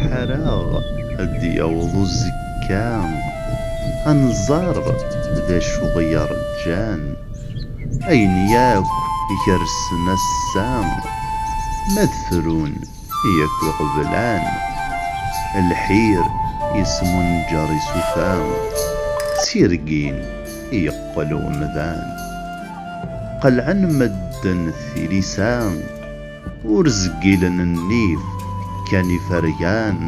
ḥaraɣ ad d-yaweḍ uzekka ad nẓer d acu i ɣ-yeṛǧan. Ayen yakk gersen ass-a ma d frun yakk i ɣ-blan. Lḥir yesmunǧer isufa, d tirgin yeqqel umdan. Qelɛen medden tilisa, ur zgilen nnif kan ifergan.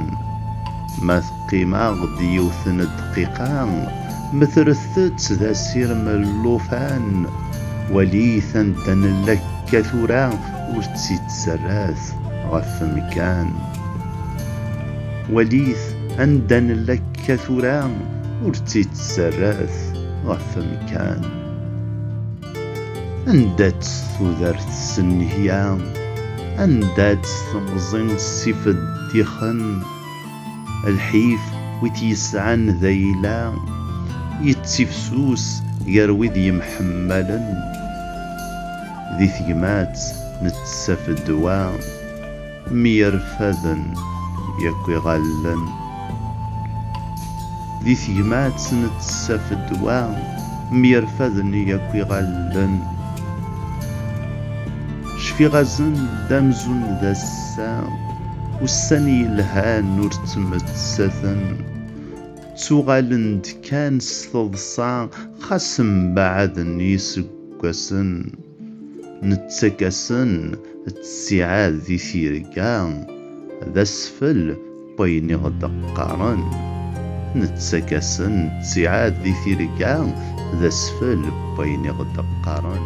Ma teqqim-aɣ-d yiwet n ddqiqa, metret-tt d asirem n llufan, walit anda nella akka tura ur tt-itterrat ɣef mkan. Walit anda nella akka tura ur tt-itterrat ɣef mkan. Anda-tt tudert s nnehya, anda-tt temẓi s ifeddixen, lḥif wi t-yesɛan d ayla, yettifsus gar wid yemḥemmalen, di tegmat nettaf ddwa. Myerfaden yakk iɣallen. Di tegmatt n tsafedwa, myerfaden yakk iɣallen. Cfiɣ-asen d amzun d ass-a, ussan yelhan ur ttmettaten. Ttuɣalen-d kan s teḍsa xas mbaɛden yiseggasen. Nettak-asen ttiɛad di tirga, d asfel n wayen i ɣ-d-qqaren. Nettak-asen ttiɛad di tirga, d asfel n wayen i ɣ-d-qqaren.